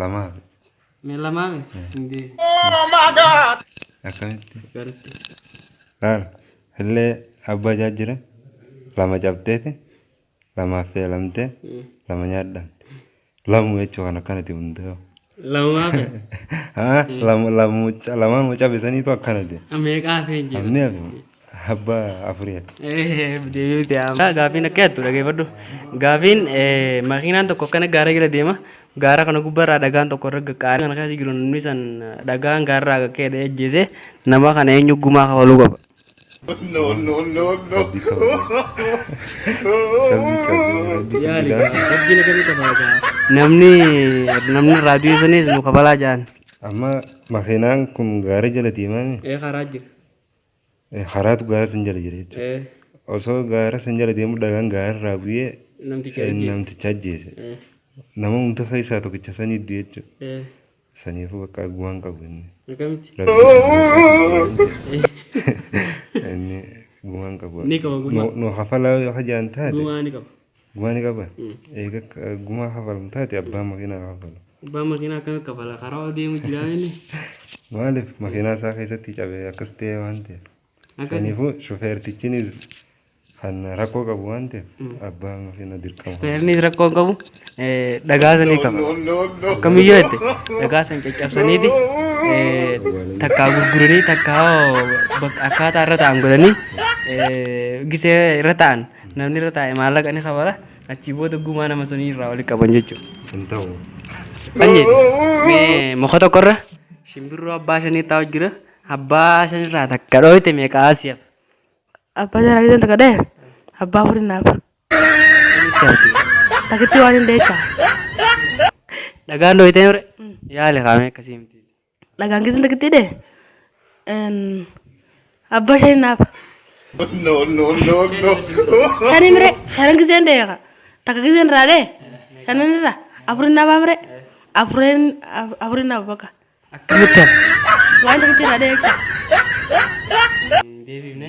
Lamaa fi. Mee lamaa mi? Hin deebi. Akkamitti? Akkamitti? Laal. Illee abbaa ijaa jira. Lama cabxeeti. Lama affeelamtee. Lama nyaadhaan. Lamu jechuu kan akkanati hundaa'u. Lamaa fi. Haa lamu lamu lamaan cabisaniitu akkanati. Meeqaa fi hin jiru? Amni hafe. Abba afuri akka. Deebi'uuti amma gaafiin akka yaaddu dhageeffadhu. Gaafiin makiinaan tokko akkana gaara jala deema. Gaara kana gubbarraa dhagaan tokko irra qaqqaara. Kana keessa jiru namni san dhagaan gaarraa qaqqeedha ajjeese nama kana eenyu gumaa kafaluu qaba. No, no, no, no. Rabbi kafaluu. Rabbi kafaluu. Rabbi Yaali kafaluu. gaa rabbiin akkamii kafala gaa. Namni namni raadiyoo sanis nu kafalaa jaan. Amma makiinaan kun gaara jala deemaa Ee karaa jira. Karaatu gaara san jala jira jechuudha. Eh, Osoo gaara san jala deemu dhagaan gaararraa bu'ee Namticha eh, ajjeese. namticha ajjeese. Eh, Nama hunda keessaa tokkicha sanii du'e jechuudha. eh, Saniifuu bakka arguu hin qabu inni. akkamitti? Rabbi inni gumaa hin qabu. Ni qaba gumaa. Nu- Nu hafalaa yoo hajaan taate. Gumaa ni qaba. Gumaa ni qabaa? Eega gumaa kafalan taate abbaan makiinaa kafalu. Abbaan makiinaa akkamitti kafala karaa ol deemu jiraa inni. Maaliif makiinaa isaa keessatti cabee akkas ta'e waan ta'eef. Saniifuu shufeertichinis kan rakkoo qabu waan ta'eef abbaa makiinaa dirqama. Shufeernis rakkoo hin qabu dhagaa sanii kafala. Akkamiyyuu jette dhagaa san caccabsaniiti takkaa gurguranii takkaa akkaataa irra ta'an godhanii gisee irra ta'an. Namni irra taa'e maallaqa ni kafala. Achii booda gumaa nama sunii irraa walitti qaban jechuudha. Hin ta'u. Anyeeti. Mee muka tokkorra shimbirroo abbaa shanii taa'u jira. Abbaa shanirraa takka dhooyte meeqaa si'af. Abbaa jaraa keessan takka dhee abbaa furii naaf. Takitti waan hin deessaa. Dhagaan dhooyte mure yaali kaamee akkasii miti. Dhagaan keessan takkitti hidhe. Abbaa shanii naaf. No, no, no, no. Shanii mire shanan giseen deeqa. Takka giseen irraa dhee. Shanan irraa afurin naaf amire. Afurin afurin naaf bakka. Akkamitti waan takkitti irraa dhee. Deebiifne.